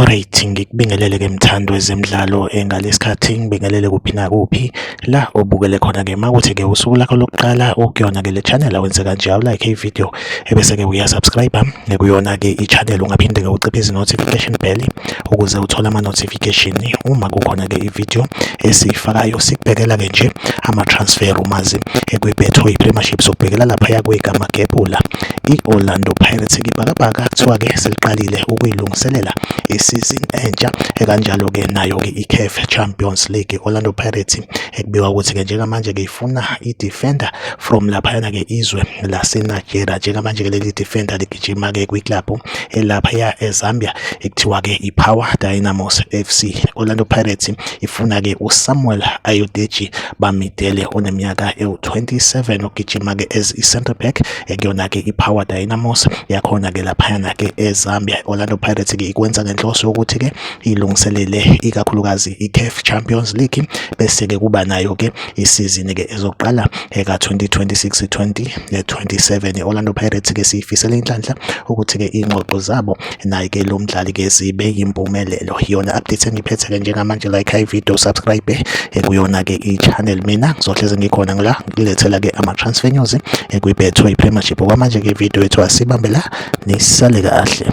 Alright, ngikubingelele ke mthando wezemidlalo engalesikhathi ngibingelele kuphi nakuphi la obukele khona ke makuthi ke usuku lakho lokuqala ukuyona ke le channel awenze kanje awu like i video ebese-ke uyasubscribe kuyona-ke i-channel ungaphinde-ke uciphe izi-notification bell ukuze uthole ama-notification uma kukhona-ke i-video esiyifakayo sikubhekela-ke nje ama-transfer umazi ekwi-betway premiership sokubhekela laphaya kwegama gebula i-orlando pirates ibhakabhaka kuthiwa-ke seliqalile ukuyilungiselela isizini entsha ekanjalo-ke nayo-ke i-caf champions league orlando pirates ekubikwa ukuthi-ke njengamanje-ke ifuna i-defender from laphayana-ke izwe laseNigeria njengamanje-ke leli defender ligijima-ke kwiklabhu elaphaya eZambia ekuthiwa-ke i-Power Dynamos FC Orlando Pirates ifuna-ke uSamuel Ayodeji Bamidele oneminyaka ewu-27 ogijima-ke as i-centre back ekuyona-ke i-Power Dynamos yakhona-ke laphayana-ke eZambia Orlando Pirates-ke ikwenza ngenhloso yokuthi-ke ilungiselele ikakhulukazi iCAF Champions League bese ke kuba nayo ke isizini ke ezoqala eka 2026 2027 Orlando Pirates ke siyifisela inhlanhla ukuthi ke ingxoxo zabo naye ke lo mdlali ke zibe yimpumelelo yona update engiphethe ke njengamanje like i video subscribe eh, kuyona ke i-channel mina ngizohleze ngikhona ngila ngilethela ke ama transfer news eh, kwiBetway Premiership okwamanje ke video yethu asibambela nisale kahle